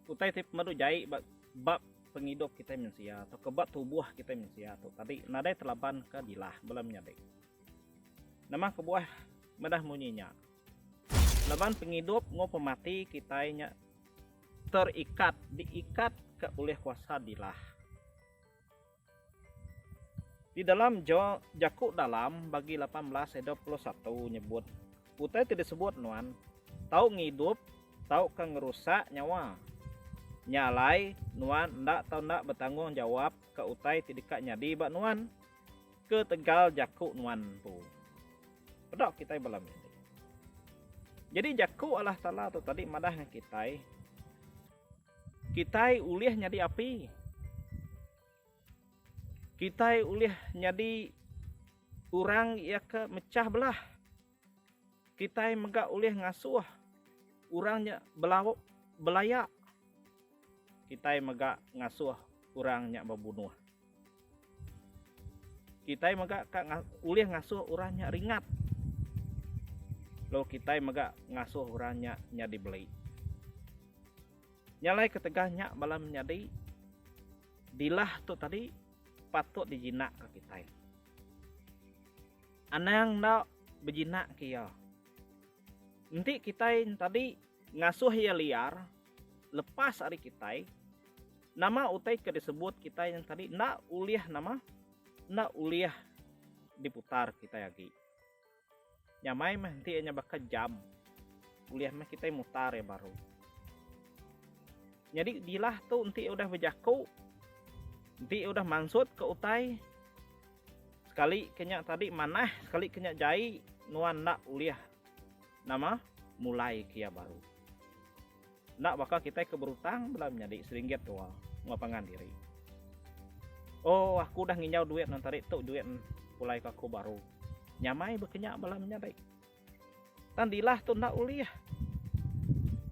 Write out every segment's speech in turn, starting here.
Utai ti pemadu jai ba bab pengidup kita mensia atau ke bab tubuh kita mensia tu tadi nadai telaban ke dilah bala menyadi. Nama kebuah medah munyi nya? Laban pengidup enggau pemati kita nya terikat, diikat ke oleh kuasa dilah. Di dalam ja, Jaku Dalam bagi lapan belas ayat dua puluh satu nyebut utai ti disebut nuan tau ngidup tauka ngerusak nyawa. Nya alai, nuan enda tau enda betanggungjawap ka utai ti deka nyadi ba nuan ketegal jaku nuan empu. Peda kitai bala meri. Jadi Jaku Allah Taala tu tadi madah ngagai kitai, Kitai ulih nyadi api. Kitai ulih nyadi orang iya ke mechah belah. Kitai mega ulih ngasuh orang nya belauk belaya. Kitai mega ngasuh orang nya bebunuh. Kitai mega ka ulih ngasuh orang nya ringat lalu kitai mega ngasuh orang nya nyadi beli. Nya alai ketegal nya bala menyadi dilah tu tadi patut dijinakka kitai. Anang enda bejinak ke iya. Enti kitai tadi ngasuh iya liar, lepas ari kitai nama utai ke disebut kitai yang tadi enda ulih nama enda ulih diputar kitai agi nyamai meh enti nya baka jam ulih meh kitai mutar ya baru nyadi dilah tu enti udah bejaku enti udah mansut ke utai sekali ke nya tadi manah sekali ke nya jai nuan enda ulih Nama? Mulai kia baru. Enda baka kitai ke berutang bela menyadi seringgit dua enggau pangan diri. Oh, aku udah nginjau duit nang tadi tu juit pulai ke aku baru. Nyamai bekenya bela menyadi. Tang dilah tu enda ulih.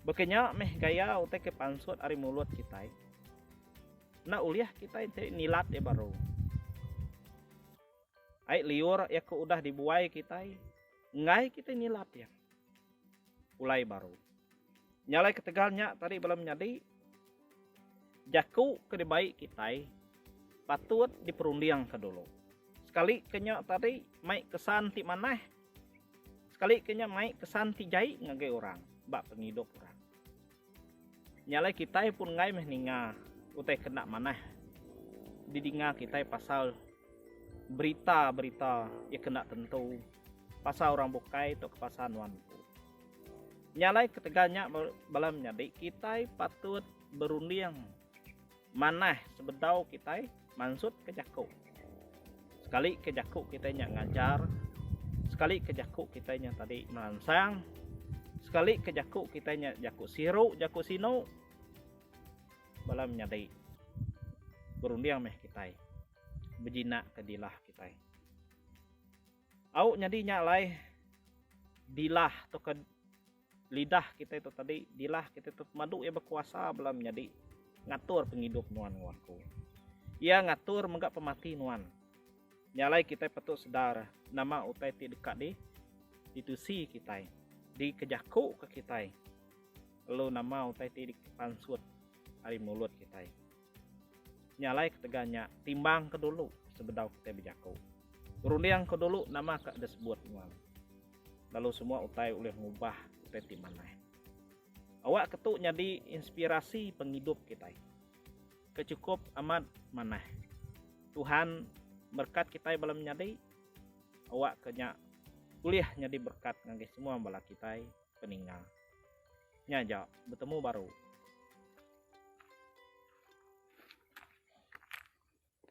Bekenya meh gaya utai ke pansut ari mulut kitai. Enda ulih kitai enti nilat iya baru. Ai liur iya ke udah dibuai kitai enggai kitai nilap iya. Pulai baru. Nya alai ketegal nya tadi bala menyadi jaku ke dibai kitai patut diperundingka dulu. Sekali ke nya tadi mai kesan ti manah sekali ke nya mai kesan ti jai ngagai orang ba pengidup orang. Nya alai kitai pun enggai meh ninga utai ke enda manah didinga kitai pasal berita-berita iya ke enda tentu pasal orang bukai tauka pasal nuan empu. Nya alai ketegal nya bala menyadi kitai patut berunding. Manah sebedau kitai mansut ke jaku. Sekali ke jaku kitai nya ngajar, sekali ke jaku kitai nya tadi meransang, sekali ke jaku kitai nya jaku siru, jaku sinu, bala menyadi berunding meh kitai bejinaka dilah kitai. Au nyadi nya alai dilah tauka. lidah kitai tu tadi dilah kitai tu pemadu iya bekuasa bela menyadi ngatur pengidup nuan enggau aku. Iya ngatur mega pemati nuan. Nya alai kitai patut sedar nama utai ti deka di ditusi kitai, dikejakuka kitai lalu nama utai ti dipansut ari mulut kitai. Nya alai ketegal nya, timbangka dulu sebedau kitai bejaku. Rundingka dulu nama ke disebut nuan. Lalu semua utai ulih ngubah kitai ti manah. Awakka tu nyadi inspirasi pengidup kitai. Ke chukup amat manah. Tuhan berkat kitai bala menyadi. Awakka nya ulih nyadi berkat ngagai semua bala kitai. peninga. Nya ja, betemu baru.